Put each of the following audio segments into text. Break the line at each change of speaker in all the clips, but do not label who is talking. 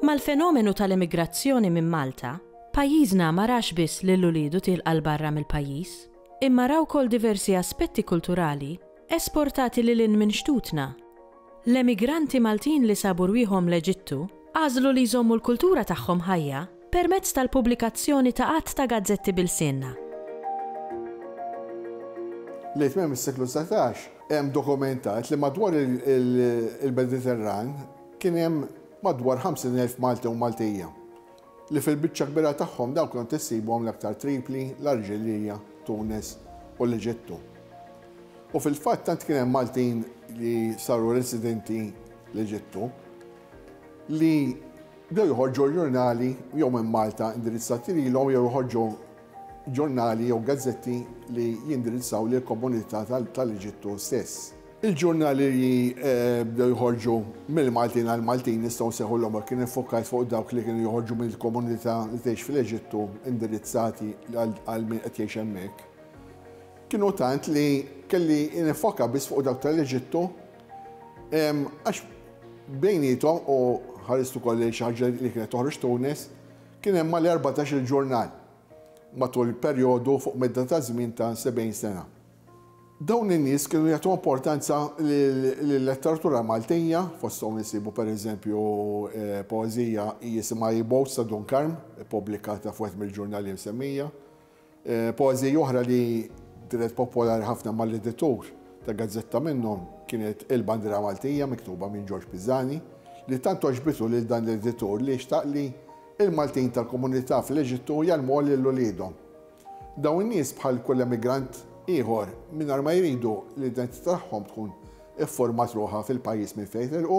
Mal-fenomenu tal-emigrazzjoni minn Malta, pajjiżna ma rax biss lil uliedu tilqa' 'l barra mill-pajjiż, imma ra wkoll diversi aspetti kulturali esportati lil hinn minn xtutna. L-emigranti Maltin li sabu rwieħhom l-Eġittu għażlu li jżommu l-kultura tagħhom ħajja permezz tal-pubblikazzjoni ta' għadd ta' gazzetti b'ilsienna. Lejn tmiem is-seklu dsatax, hemm dokumentat li madwar il-Mediterran kien hemm madwar 50,000 Malti u Maltija. li fil-biċċa kbira tagħhom dawk kont issibhom l-aktar Tripli, l-Arġilija, Tunis u l-Eġittu. U fil-fatt tant kien hemm Maltin li saru residenti l-Eġittu li bdew joħorġu ġurnali jew minn Malta indirizzati lilhom jew joħorġu ġurnali jew gazzetti li jindirizzaw lill-komunità tal-Eġittu stess. Il-ġurnali li bdew joħorġu mill-Maltin għall-Maltin jistgħu nsejħulhom hekk. Jien iffokajt fuq dawk li kienu joħorġu mill-komunità li tgħix fl-Eġittu indirizzati għal min qed jgħix hemmhekk. Kienu tant li kelli niffoka biss fuq dawk tal-Eġittu għax bejniethom u ħarist ukoll lejn xi ħaġa li kienet toħroġ Tunis, Kien hemm għal erbatax-il ġurnal matul perjodu fuq medda ta' żmien ta' sebgħin sena. Dawn in-nies kienu jagħtu importanza lil-letteratura Maltija, fosthom insibu per eżempju poeżija jisimha Ibowz ta' Dun Karm, ippubblikata f'wieħed mill-ġurnali msemmija. Poeżiji oħra li dehret popolari ħafna mal-editur ta' gazzetta minnhom kienet Il-Bandiera Maltija miktuba minn Ġorġ Pisani li tant għoġbitu lil dan l-editur li xtaq li l-Maltin tal-komunità fl-Eġittu jgħallmuha lil uliedhom. Dawn in-nies bħal kull emigrant ieħor mingħajr ma jridu l-identità tagħhom tkun iffurmat ruħha fil-pajjiż minn fejn telqu,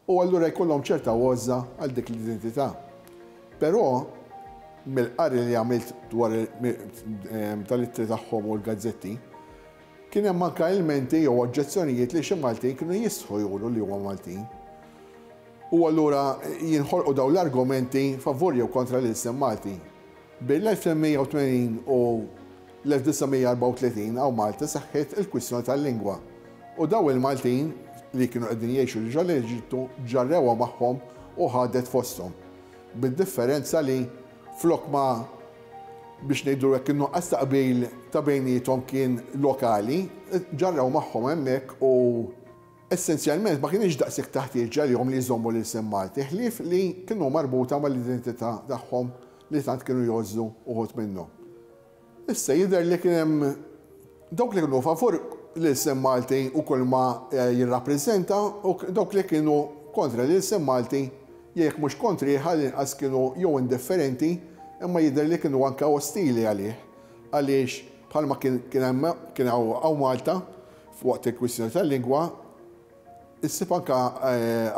u allura jkollhom ċerta għożża għal dik l-identità. Però, mill-qari li għamilt dwar tal-ittri tagħhom u l-gazzetti, kien hemm anke ilmenti jew oġġezzjonijiet li xi Maltin kienu jistħu juru li huma Maltin. U allura jinħolqu dawn l-argumenti favur jew kontra l-ilsien Malti. Bejn l-1880 u l-1934 hawn Malta seħħiet il-kwistjoni tal-lingwa u dawn il-Maltin li kienu qegħdin jgħixu diġà l-Eġittu ġarrewha magħhom u ħadet fosthom. Bid-differenza li flok ma biex ngħidlu hekk in-nuqqas ta' qbil ta' bejniethom kien lokali, ġarrew magħhom hemmhekk u. Essenzjalment ma kinitx daqshekk ta' ħtieġa għalihom li jżommu l-ilsien Malti ħlief li kienu marbuta mal-identità tagħhom li tant kienu jgħożżu uħud minnhom. Issa jidher li kien hemm dawk li kienu favur l-ilsien Malti u kulma jirrappreżenta u dawk li kienu kontra l-ilsien Malti jew jekk mhux kontrih għall-inqas kienu jew indifferenti imma jidher li kienu anke ostili għalih għaliex bħalma kien kien hemm kien hawn Malta F'waqt il-kwistjoni tal-lingwa, issib anke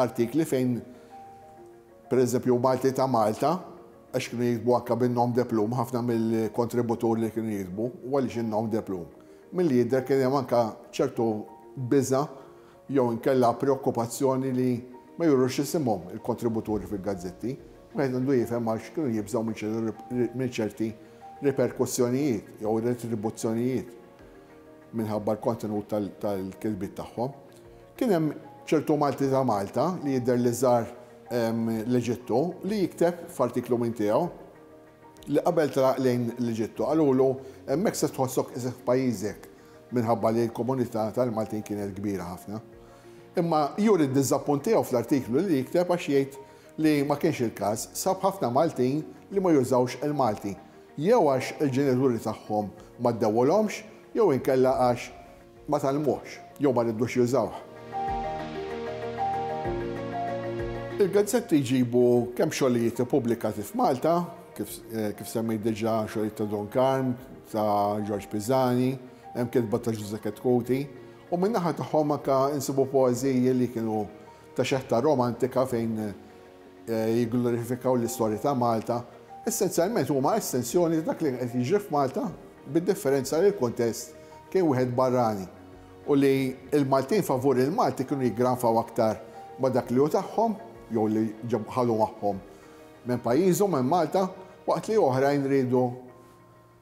artikli fejn, per eżempju, Malti ta' Malta, għax kienu jiktbu anke bin-nom de plume ħafna mill-kontributuri li kienu jiktbu, u għaliex in-nom de plume? Milli jidher kien hemm anke ċertu biża' jew inkella preokkupazzjoni li ma jurux isimhom il-kontributuri fil-gazzetti. Wieħed għandu jifhem għax kienu jibżgħu minn ċerti riperkussjonijiet jew retribuzzjonijiet. minħabba l-kontenut tal-kitbiet tagħhom. Kien hemm ċertu Malti ta' Malta li jidher li żar l-Eġittu li jikteb f'artiklu minn tiegħu li qabel traq lejn l-Eġittu qalulu hemmhekk se tħossok iżgħar f'pajjiżek minħabba li l-komunità tal-Maltin kienet kbira ħafna. Imma juri d-diżappunt tiegħu fl-artiklu li jikteb għax jgħid li ma kienx il-każ, sab ħafna Maltin li ma jużawx il-Malti jew għax il-ġenituri tagħhom ma ddewwulhomx jew inkella għax ma tgħallmuhx jew ma ridux jużawh. Il-gazzetti jġibu kemm xogħlijiet ippubblikati f'Malta, kif semmejt diġà xogħlijiet ta' Don Karm, ta' Ġorġ Pisani, hemm kitba ta' Ġużè Chetcuti, u min-naħa tagħhom anke nsibu poeżiji li kienu ta' xeħta romantika fejn jigglorifikaw l-istorja ta' Malta, essenzjalment huma estensjoni ta' dak li qed jiġri f'Malta bid-differenza li l-kuntest kien wieħed barrani u li l-Maltin favur il-Malti kienu jiggranfaw aktar ma' dak li hu tagħhom jew li ħadu magħhom minn pajjiżhom, minn Malta, waqt li oħrajn riedu